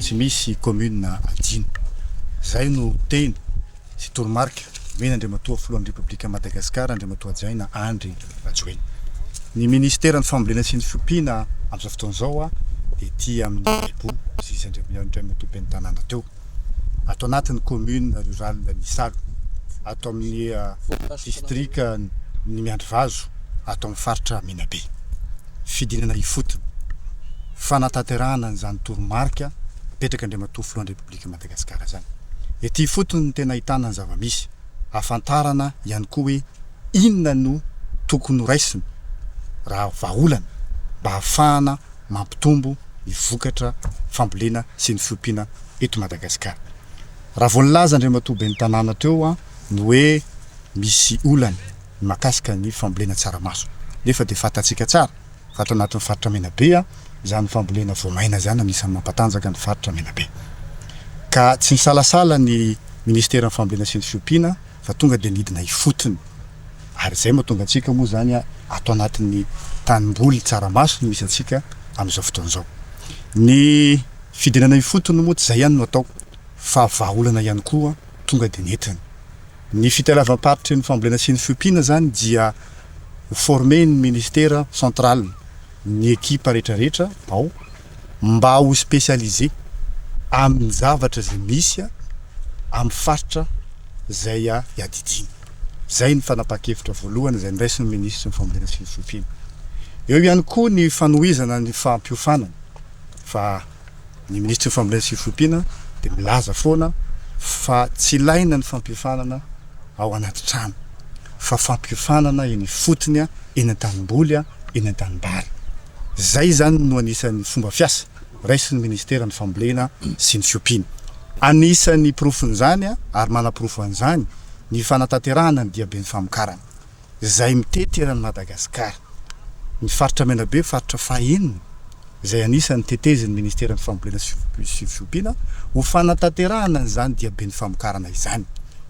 Tsy misy commune adino. Zay no teny sy toromarika omena Andriamatoa Filohan'ny Repoblikan'i Madagasikara Andriamatoa Hajaina Andry Rajoelina. Ny Ministeran'ny Fambolena sy ny Fiompiana amin'izao fotoana izao dia ety amin'ny Ibo Zizy Andriamatoa Ben'ny Tanàna teo. Ato anatin'ny commune rurale ny Isalo, ato amin'ny distrikan'ny Miandrivazo, ato amin'ny faritra Menabe. fidinana ifotony, fanatanterahana an'izany toromarika apetrak'Andriamatoa Filohan'ny Repoblikan'i Madagasikara izany. Ety ifotony no tena ahitana ny zava-misy. Ahafantarana ihany koa hoe inona no tokony horaisina raha vahaolana mba hahafahana mampitombo ny vokatra fambolena sy ny fiompiana eto Madagasikara. Raha vao nilaza Andriamatoa Ben'ny tanàna teo ny hoe misy olana, ny mahakasika ny fambolena tsaramaso nefa dia fantatsika tsara fa ato anatin'ny faritra Menabe izany fambolena voamaina izany anisan'ny mampatanjaka ny faritra Menabe ka tsy nisalasala ny ministeran'ny fambolena sy ny fiompiana fa tonga dia nidina ifotony ary izay mahatonga antsika moa izany ato anatin'ny tanimboly tsaramaso no misy antsika amin'izao fotoana izao ny fidinana ifotony moa tsy izay ihany no atao fa vahaolana ihany koa tonga dia nentiny Ny fitalavam-paritry ny fambolena sy ny fiompiana izany dia ho former-n'ny ministera central ny ekipa rehetrarehetra ao mba ho specialiser amin'ny zavatra izay misy amin'ny faritra izay iadidiany. Izay ny fanapahan-kevitra voalohany izay noraisin'ny minisitry ny fambolena sy ny fiompiana. Eo ihany koa ny fanohizana ny fampiofanana fa. Ny Minisitry ny Fambolena sy ny Fiompiana dia milaza foana fa tsy ilaina ny fampiofanana ao anaty trano fa fampiofanana eny ifotony, eny an-tanimboly, eny an-tanimbary. Izay izany no anisan'ny fomba fiasa raisin'ny Minisiteran'ny Fambolena sy ny Fiompiana. Anisan'ny porofon'izany ary manaporofo an'izany ny fanatanterahana ny diaben'ny famokarana. izay mitety eran'i Madagasikara. Ny faritra Menabe, faritra fahenina izay anisan'ny tetezin'ny Ministeran'ny Fambolena sy Fiompiana, ho fanatanterahana an'izany diaben'ny famokarana izany.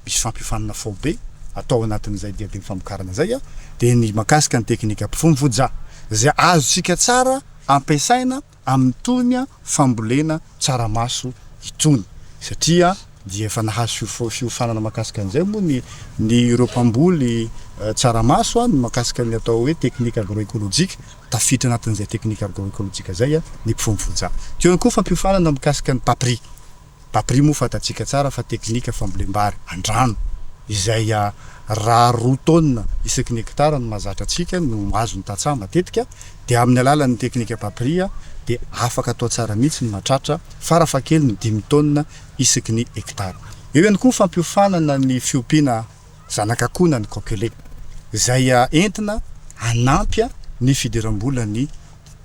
Misy fampiofanana faobe atao ao anatin'izay diaben'ny famokarana izay, dia ny mahakasika ny teknika mpifono voja, izay azontsika tsara ampiasaina, amin'itony fambolena tsaramaso itony satria dia efa nahazo fiofanana mahakasika an'izay moa ny ny ireo mpamboly tsaramaso ny mahakasika ny atao hoe technique agro-ecologique, tafiditra anatin'izay technique agro-ecologique izay ny mpifono voanjaha. Teo ihany koa fampiofanana mikasika ny paprika. Bapri moa fantatsika tsara fa teknika fambolem-bary an-drano izay raha roa taonina isaky ny hekitara no mahazatra antsika no azo ny tantsaha matetika dia amin'ny alalan'ny teknika Bapri dia afaka atao tsara mihitsy ny mahatratra farafahakeliny dimy taonina isaky ny hekitara. Eo ihany koa ny fampiofanana ny fiompiana. zanak'akonan'ny Kokele, izay entina hanampy ny fidiram-bolan'ny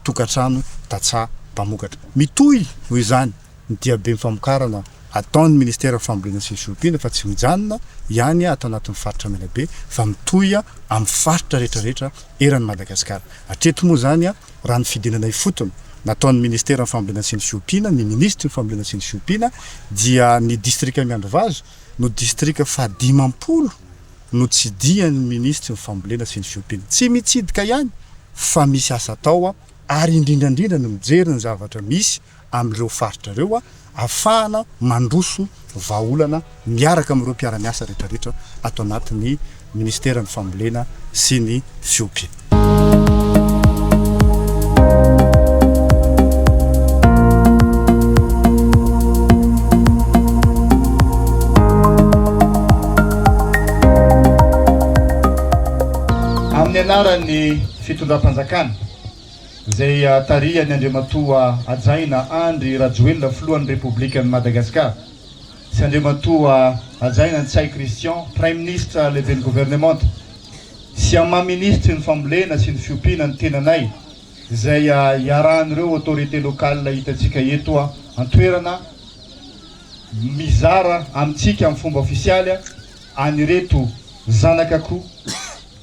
tokantrano tantsaha mpamokatra. Mitohy, noho izany, ny diabem famokarana ataon'ny Minisiteran'ny Fambolena sy ny Fiompiana fa tsy mijanona ihany ato anatin'ny Faritra Menabe fa mitohy amin'ny Faritra rehetrarehetra eran'i Madagasikara. Hatreto moa izany, raha ny fidinana ifotony nataon'ny Minisiteran'ny Fambolena sy ny Fiompiana, ny Minisitry ny Fambolena sy ny Fiompiana, dia ny Distrika Miandrivazo, no distrika fahadimampolo notsidihan'ny minisitry ny fambolena sy ny fiompiana. Tsy mitsidika ihany fa misy asa atao ary indrindrandrindra ny mijery ny zavatra misy amin'ireo faritra ireo ahafahana mandroso vahaolana miaraka amin'ireo mpiara-miasa rehetrarehetra ato anatin'ny Minisiteran'ny Fambolena sy ny Fiompy. Amin'ny anaran'ny Fitondram-panjakana izay tarihan'ny Andriamatoa Hajaina Andry Rajoelina Filohan'ny Repoblikan'i Madagasikara, sy Andriamatoa Hajaina Ntsay Christian, Praiminisitra Lehiben'ny Governemanta, sy amin'ny maha Minisitry ny Fambolena sy ny Fiompiana ny tenanay, izay iarahan'ireo autorités locales hitantsika eto an-toerana mizara amintsika amin'ny fomba ofisialy an'ireto zanakako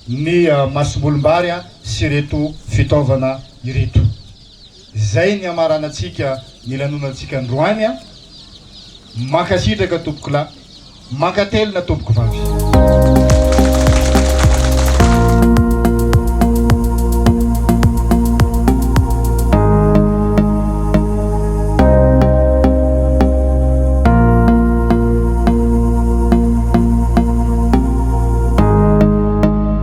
ny masombolim-bary sy ireto fitaovana ireto. Izay ny hamaranantsika ny lanonantsika androany a! Mankasitraka tompokolahy, mankatelina tompokovavy.